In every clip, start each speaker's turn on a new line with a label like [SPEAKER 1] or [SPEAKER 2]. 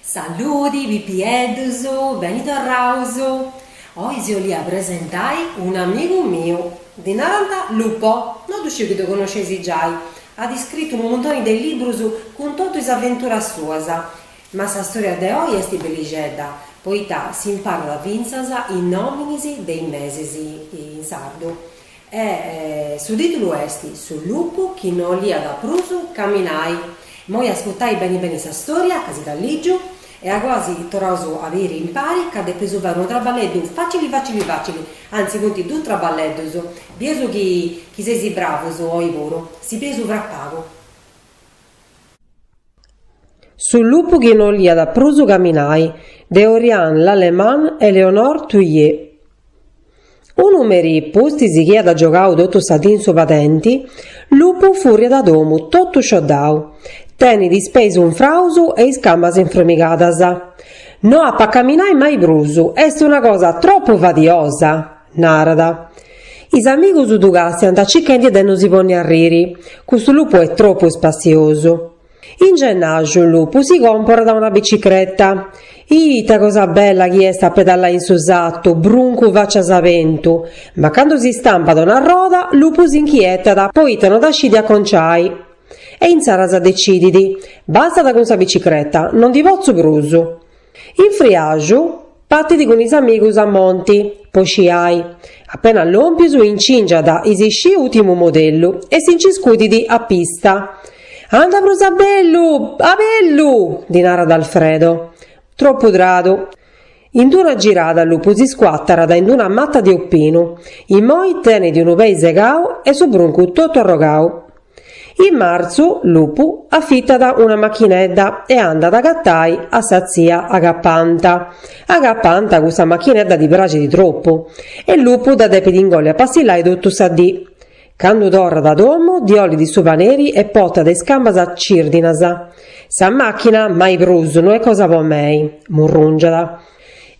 [SPEAKER 1] Saludi pipiedhus, beni torraus. Oi si 'olia presentai un'amigu miu. Dhi nant Lupo, no dhu sciu chi dhu connoscesi giai. At iscritu unu muntoni de librus cun totu is aventuras suas. Ma sa storia de oi est bellixedha, poita s'imparat fintzas is nominis de is mesis in sardu. E su tìtulu est Su lupu chi no 'oliat prus caminai. Immoi ascurtai beni beni sa stòria, ca si dda lìgiu, e agoa si torraus a biri impari ca depeus fai unu traballeddu fàcili fàcili fàcili, antzis funt duus traballeddus, bieus chi seis bravus oi puru, si bieus fra pagu. Su lupu chi no 'oliat prus caminai de Orianne Lallemand e Éléonore Thuillier. Unu merì pustis chi iat giogau totu sa dì in su padenti, Lupu furriat a domu totu scioddau, tenit is peis unfraus e is camas infromigadas. No apu a caminai mai prus, est una cosa tropu fadiosa! Narat. Is amigus ddu càstiant cichendi de no si ponni a riri, custu lupu est tropu ispassiosu. In gennàxu lupu si còmporat una bicicreta. Ita cosa bella chi est a pedallai in su satu, bruncu fàcias a bentu! Ma candu si stampat una roda, lupu s'inchietat poita no dda scit aconciai. E insaras decidit, Bastat cun sa bicicreta, no ndi potzu prus. In friaju patit cun is amigus a monti po sciai. Apenas lòmpius incingiat is sci ùtimu modellu e si nci scudit a pista. Anda prus a bellu, a bellu! ddi narat Alfredo. Tropu tradu. In d-una girada Lupu si scuàtarat in d-una mata de opinu. Immoi tenit unu pei segau e su bruncu totu arrogau. In marzu, Lupu afitat una machinedda e andat a agatai a sa tzia Agapanta. Agapanta custa machinedda ddi praxit tropu e Lupu dda depit ingolli a passillai totu sa dì. Candu torrat a domu ddi 'olit su paneri e potat is cambas cirdinas. Sa màchina mai prus no est cosa po mei, murrùngiat.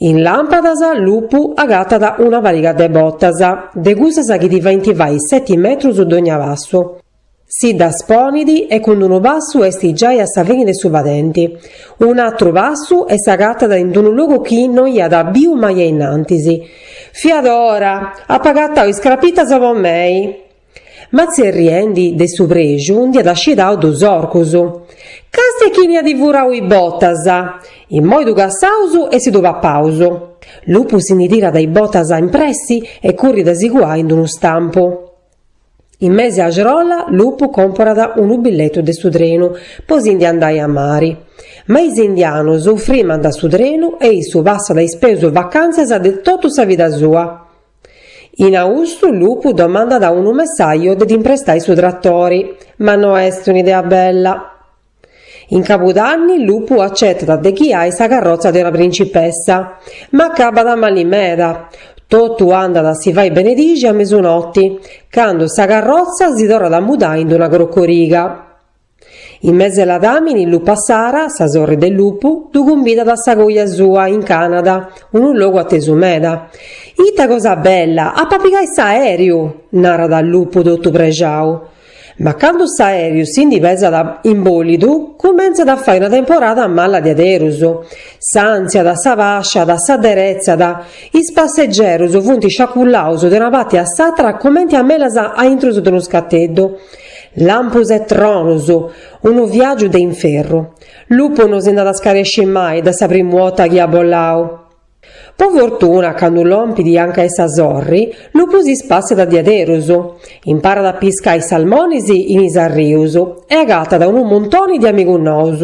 [SPEAKER 1] In làmpadas, Lupu agatat una pariga de botas, de cussas chi ti faint fai seti metrus dogna passu. Si ddas ponit e cun d-unu passu est giai a sa fini de su padenti, un'atru passu e s'agatat in d-unu logu chi no iat biu mai ainnantis. Fiat ora! Apu agatau is crapitas po mei! Ma tzerriendi de su prexu nd'iat ascidau dus orcus. Càstia chini at furau is botas! Immoi ddu cassaus e si ddu papaus. Lupu si ndi tirat is botas in pressi e currit a si cuai in unu stampu. In mesi Axrola Lupu comporat unu billetu de su trenu po si ndi andai a mari. Ma is indianus frimant su trenu e issu passat is peus vacantzas de totu sa vida sua. In austu Lupu domandat a unu messaju de dd'imprestai su tratori, ma no est un'idea bella. In Cabudanni Lupu acetat de ghiai sa carrotza de una principessa, ma acabat mali meda, totu andat a si fai benedixi a mesunoti, candu sa carrotza si torrat a mudai in una crocoriga. In mesi 'e Ladàmini Lupa Sara, sa sorri de Lupu, ddu cumbidat a sa coja sua in Canada, unu logu atesu meda. Ita cosa bella, ap'a pigai s'aeriu! narat Lupu totu prexau. Ma candu s'aeriu si ndi pesat in bolidu, cumentzat a fai una temporada mala diaderus. S'antziat, s'abàsciat, s'aderetzat, is passegerus funt sciacullaus de una parti a s'atra comenti a melas a intrus de unu scateddu. Lampus e tronus! Unu viàgiu de inferru. Lupu no si nd'at a scaresci mai de sa primu 'ota chi at bolau. Po fortuna, candu lompit anca 'e sa sorri, Lupu si spàssiat diaderus, imparat a piscai salmonis in is arrius e agatat unu muntoni de amigus nous.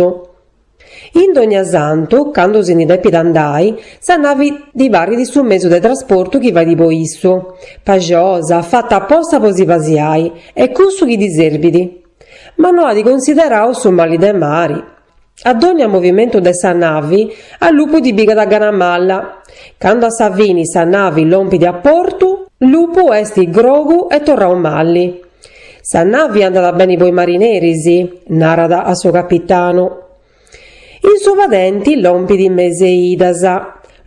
[SPEAKER 1] In Dognasantu, candu si ndi depit andai, sa navi ddi parit su mesu de trasportu chi fait po issu, paxiosa, fata aposta po si pasiai, est cussu chi ddi serbit. Ma no at considerau su mali de mari. A dogna movimentu de sa navi, a Lupu ddi pigat gana mala. Candu a sa fini sa navi lompit a portu, Lupu est grogu e torrau mali. Sa navi andat beni po is marineris, narat a su capitanu. In su padenti lompit Mes'e Idas.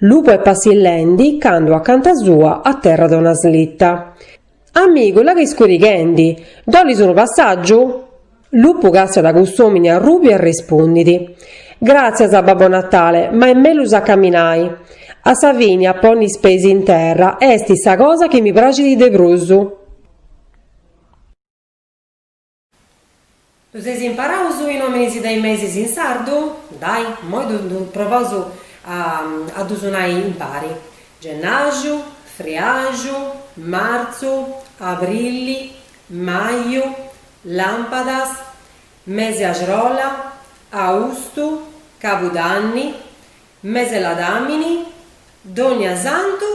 [SPEAKER 1] Lupu est passillendi candu acanta sua aterrat una slita. Amigu, la' ca est scurighendi, ddu 'olis unu passàgiu? Lupu càstiat cuss'òmini arrùbiu e respundit, Gràtzias, Babbo Natale, ma est mellus a caminai. A sa fini a ponni is peis in terra est sa cosa chi mi praxit de prus. Ddus eis imparaus is nòminis de is mesis in sardu? Dai, immoi ddu provaus a ddus nai impari, Gennaxu, Friaxu, Martzu, Abrili, Maju, Làmpadas, Mesi Axrola, Austu, Cabudanni, Mes'e ladàmini, donniasantu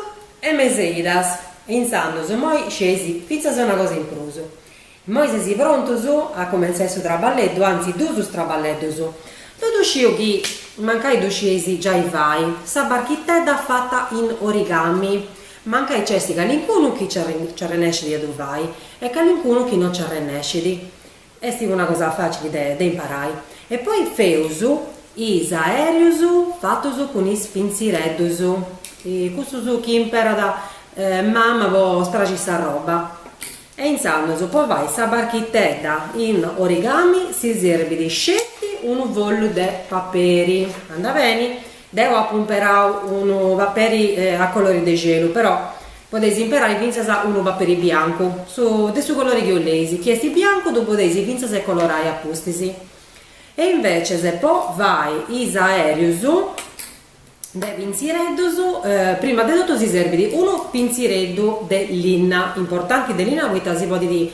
[SPEAKER 1] e mes'e idas e intzandus immoi scesi fintzas una cosa in prus. Immoi sesi prontus a cumentzai su traballeddu, anzi duus is traballeddus. Deu sciu chi mancai ddu scieis giai fai, sa barchitedda fata in origami, mancai nc'est calincunu chi nci arrennescit a ddu fai e calincunu chi no nci arrennescit. Est una cosa facili de de imparai. E poi feus is aerius fatus cun is pintzireddus, cussus chi imperat mama po sterri s'arroba. E intzandus po fai sa barchitedda in origami si serbit sceti unu follu de paperi, anda beni, Deu apu imperau unu paperi a colori de gelu, però podeis imperai fintzas unu paperi biancu, su de su colori chi 'oleis, chi est biancu ddu podeis fintzas e colorai a pustis. E inveces po fai is aerius de pintzireddus, prima de totu si serbit unu pintzireddu de linna, importanti de linna poita si podit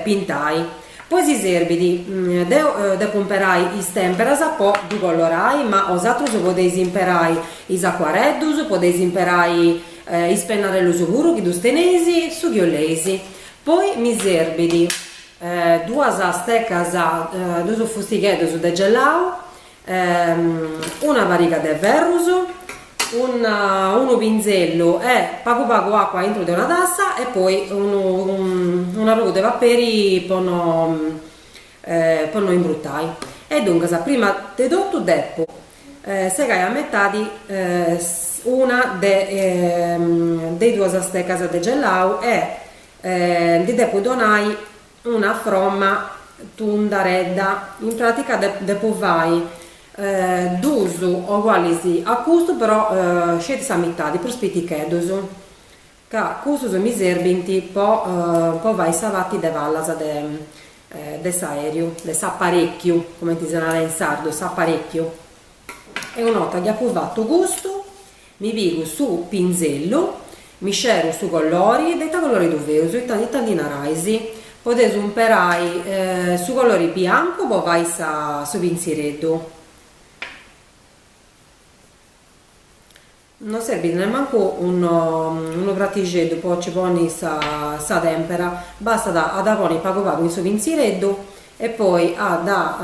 [SPEAKER 1] pintai. Poi si serbit, deo depo imperai is temperas po ddu collorai, ma osatrus podeis imperai is acuareddus, podeis imperai is pennarellus puru chi ddus teneis, su chi 'oleis. Poi mi serbit duas stecas, duus fustigheddus de gelau, Una pariga de ferrus, unu pinzellu e pagu pagu acua aintru de una tassa e poi un'arrogu de paperi po no po no imbrutai e duncas prima de totu depu segai a metadi una de de is duas stecas de gellau e ndi depu donai Una fromma tundaredda, in pràtica depu fai duus ogualis a custu però sceti sa mitadi, prus piticheddus, ca cussus mi serbint po po fai sa parti de palas de de s'aeriu, de s'aparecchiu, cumenti si narat in sardu, s'aparecchiu. E una 'orta chi apu fatu custu Mi pigu su pinzellu, mi sceru su collori, de ita collori ddu feus, ita ita ndi narais? Podeus imperai su collori biancu po fai sa su pintzireddu. Non serbit nemmancu unu unu pratixeddu po nci ponni sa sa tempera, bastat a dda ponni pagu pagu in su pintzireddu e poi a dda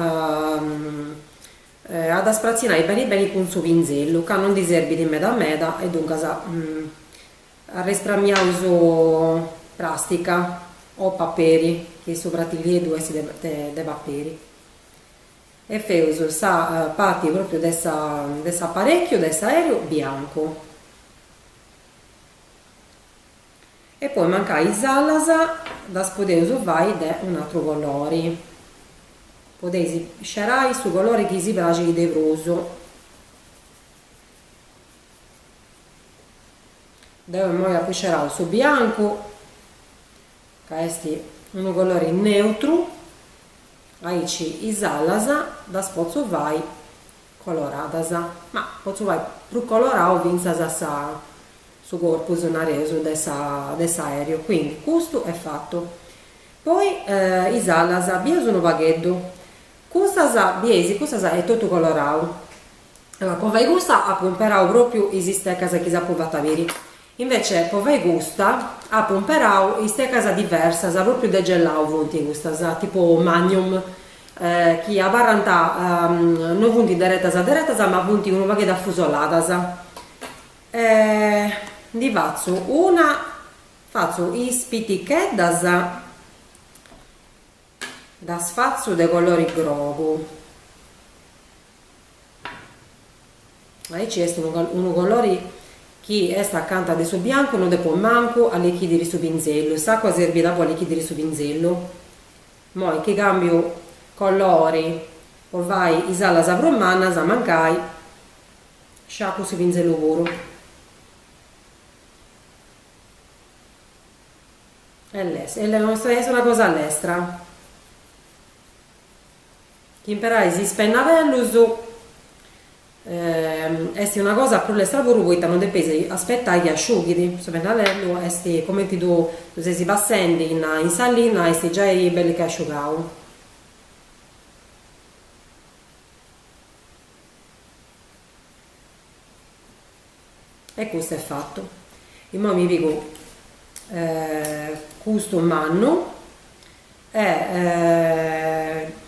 [SPEAKER 1] Bastat a spratzinai beni beni cun su pinzellu, ca non ndi serbit meda meda e duncas arrespramiaus pràstica o paperi, chi su fratillieddhu est de paperi, e feus sa parti pròpriu de sa de s'aparèchiu de s'aèreu biancu. e poi mancai is alas ddas podeus fai de un'atru colori podeis scerai su colori chi si praxit de prus deu immoi apu scerau su biancu ca est unu colori neutru aici is alas ddas potzu fai Coloradas, ma potzu fai prus colorau fintzas sa su corpus, nareus, de sa de s'aeriu, quindi custu est fatu. Poi is alas, bius unu pagheddu, custas, bieis, custas est totu colorau, po fai custa apu imperau pròpriu is isteccas chi s'apu fata biri, Invece po fai custa apu imperau istecas diversas, pròpriu de gelau funt custas, tipu magnum, chi abarrant, no funt deretas deretas ma funt unu pagheddu afusoladas. E ndi fatzu una, fatzu is piticheddas Ddas fatzu de colori grogu. Aici est unu colori chi est acanta de su biancu, no depo mancu allichidiri su pinzellu, s'acua serbiat po allichidiri su pinzellu. Moi chi cambiu colori po fai is alas prus mannas, mancai, sciacu su pinzellu puru. E les. E est una cosa lestra. Chi imperais is pennadellus est una cosa prus lestra puru poita non depeis aspetai chi asciughit. Su pennadellu est comenti ddu seis passendi in in sa linna est giai bell'e che asciugau. E custa est fata. Imoi mi pigu custu mannu e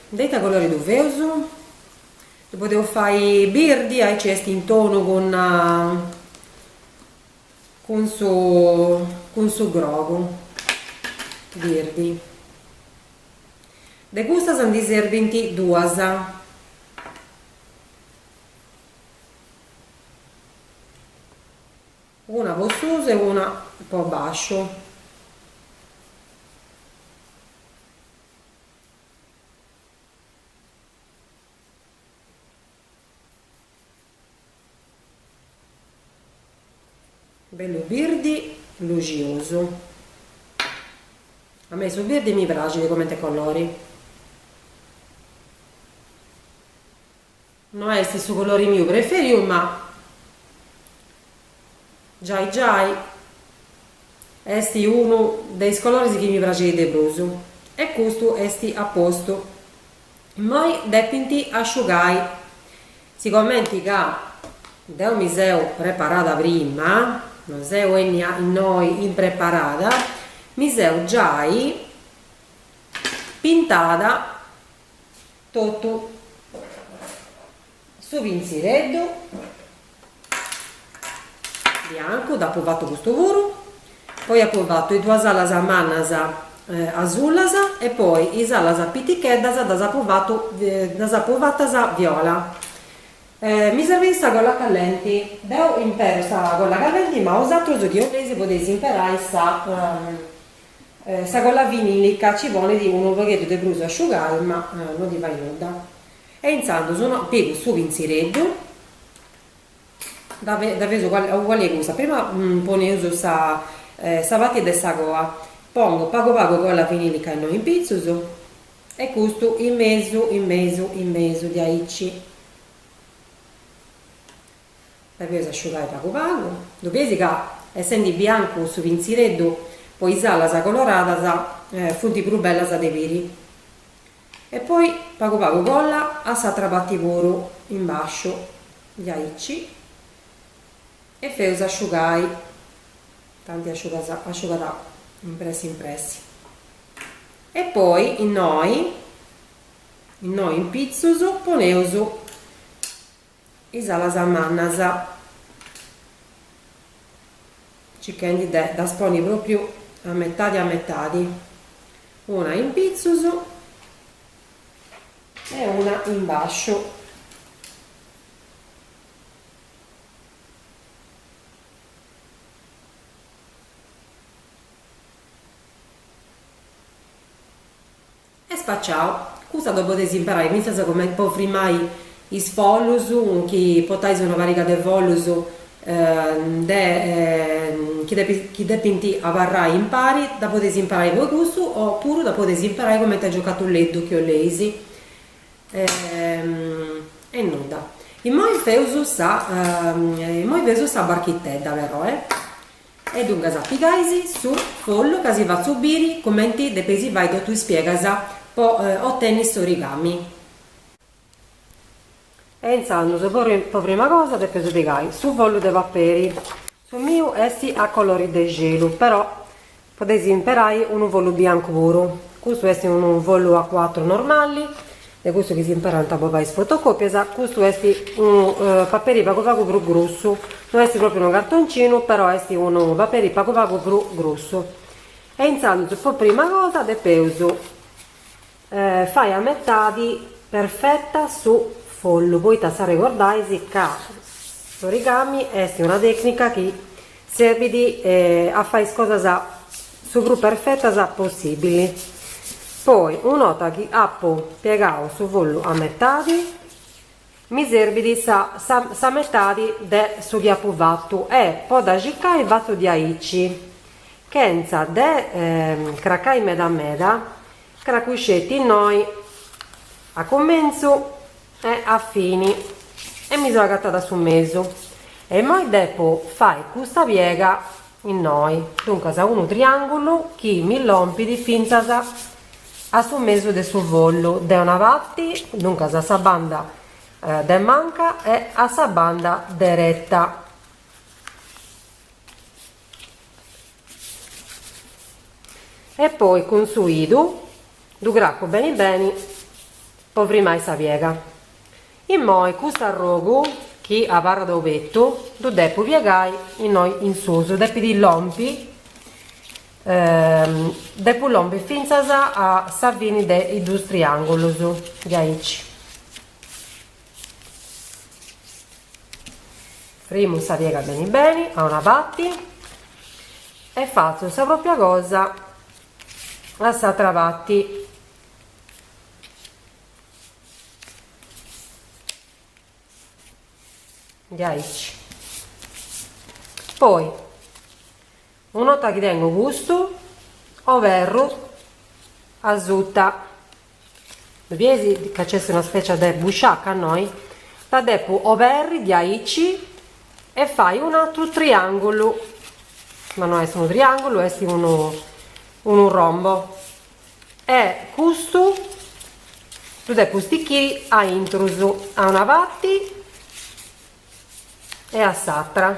[SPEAKER 1] de ita colori ddu feus? Ddu podeus fai birdi, aici est in tonu cun cun su cun su grogu birdi. De custas ndi serbint duas. Una po susu e una po basciu. Bellu birdi luxosu. A mei su birdi mi praxit comente colori. No est su colori miu preferiu ma giai giai est unu de is coloris chi mi praxint de prus e custu est a postu. Moi depint asciugai, sigomenti ca deu mi seu preparada prima, no seu 'ennia innoi impreparada, mi seu giai pintada totu su pintzireddu biancu, dd'apu fatu custu puru, poi apu fatu is duas alas mannas asulas e poi is alas piticheddas ddas apu fatu, ddas apu fatas viola, mi serveit sa colla callenti, deu impero sa colla callenti ma 'osatrus chi 'oleis podeis imperai sa Sa colla vinilica ci ponit unu pogheddu de prus a asciugai ma no ddi fait nudda. E intzandus no, pigu su pintzireddu, dda dda feus uguali 'e cussa, prima poneus sa sa parti de sa coa, pongu pagu pagu colla vinilica innoi in pitzus e custu in mesu in mesu in mesu diaici Dda feus asciugai pagu pagu, ddu bies ca essendi biancu su pintzireddu po is alas coloradas funt prus bellas de biri. E poi pagu pagu colla a s'atra parti puru in basciu diaici e feus asciugai, tanti asciugat in pressi in pressi. E poi innoi innoi in pitzus poneus is alas mannas, circhendi de ddas ponni pròpriu a metadi a metadi, una in pitzus e una in bàsciu, Est spaciau. Custa dda podeis imperai fintzas po frimai is follus, chi potais una pariga de follus de chi depint abarrai impari, dda podeis imperai po cussu o puru dda podeis imperai cumenti a giocatuleddu chi 'oleis. E nudda. Immoi feus sa immoi feus sa barchitedda però eh. E duncas pigais su follu ca si fatzu biri cumenti depeis fai totu is piegas po ottenni s'origami. E intzandus po prima cosa depeus pigai su follu de paperi, su miu est a colori de celu però podeis imperai unu follu biancu puru, custu est unu follu a cuatru normali, de cussus chi si imperant po fai is fotocòpias, custu est unu paperi pagu pagu prus grussu, no est pròpriu unu cartoncinu, però est unu paperi pagu pagu prus grussu, e intzandus po prima cosa depeus fai a metadi perfeta su follu, poita s'arregordais ca s'origami est una tècnica chi Serbit a fai is cosas su prus perfetas possibili. Poi una 'orta chi apu piegau su follu a metadi, mi serbit sa sa metadi de su chi apu fatu e po dda circai fatzu diaici, chentza de cracai meda meda, cracu sceti innoi a cumentzu, e a fini e mi so agattada a su mesu e immoi depo fai custa piega innoi, duncas unu triangulu chi mi lompit finzas a su mesu de su follu de una parti, duncas a sa banda de manca e a sa banda deretta. e poi cun su idu ddu craccu beni beni po frimai sa piega, immoi custu arrogu chi abarrat obertu ddu depu piegai innoi in susu, depit lompi depu lompi fintzas a sa fini de is dus triangulus diaici. Frimu sa piega beni beni a una pati e fatzu sa propria cosa a s'atra pati. Diaici. Poi, un'ota chi tengu custu, oberru asuta. Ddu bides ca nc'est una spècia de busciaca innoi? Dda depu oberri diaici e fai un'atru triàngulu, ma no est unu triàngulu, est unu unu rombo e custu ddu depu stichiri a intrus, a una parti e a s'atra.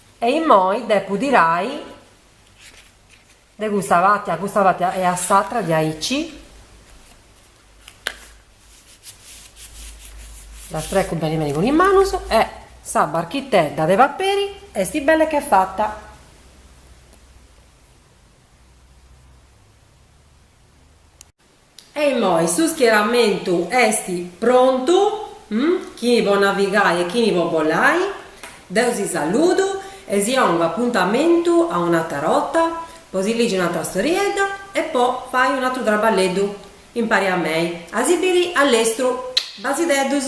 [SPEAKER 1] E immoi depu tirai de custa pati a custa pati e a s'atra diaici, dda strecu beni beni cun is manus e sa barchitedda de paperi esti bella e che fata. E immoi su schieramentu est prontu, chini po navigai e chini po bolai, deu si saludu e si ongu apuntamentu a un'atra rota po si ligi un'atra storiedda e po fai un'atru traballeddu impari a mei a si biri a lestru. Basideddus.